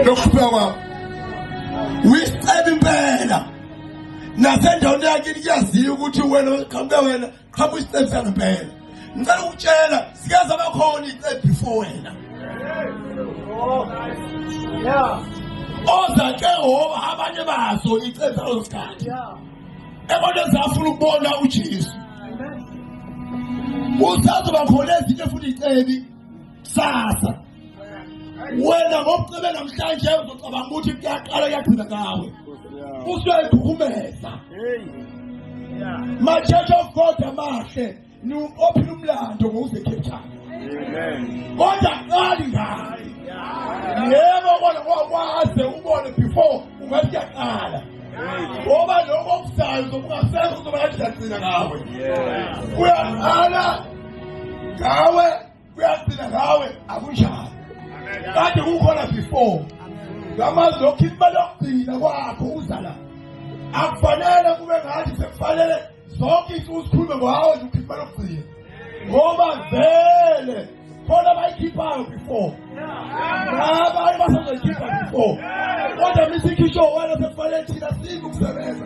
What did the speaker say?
lokuphika kwabo uyisiceba impela nasendaweni yakini kuyaziwa ukuthi wena qhamuke wena qhamuka isicebo sangempela ngicela ukutshela sikaze abakhona icebo before wena oza ke ngoba abanye bazo icebo salo sikhathi ebona zafuna ukubona ujesu usazoba khona ezinye futhi icebi sasa wena ngokucebe namhlanje uzocabanga ukuthi kuyaqala kuyagcina ngawe usuyayikhukhumeza machurch of god amahle ophila umlando ngowuzekhethana kodwa qali ngaye yebo kona kwaze ubone before ungathi kuyaqala ngoba lokho okuzayo zokungasekho uzoba kanjani gcina ngawe kuyaqala ngawe kuyagcina ngawe akunjalo kade kukhona before ngamazi lokhu imali yokugcina kwakho uzala akufanele kube ngathi sekufanele zonke into uzikhulume ngawo nje ukhipha imali yokugcina ngoba vele khona abayikhiphayo before abanye basazoyikhipha before kodwa misikhishowala sekufanele thina sibe ukusebenza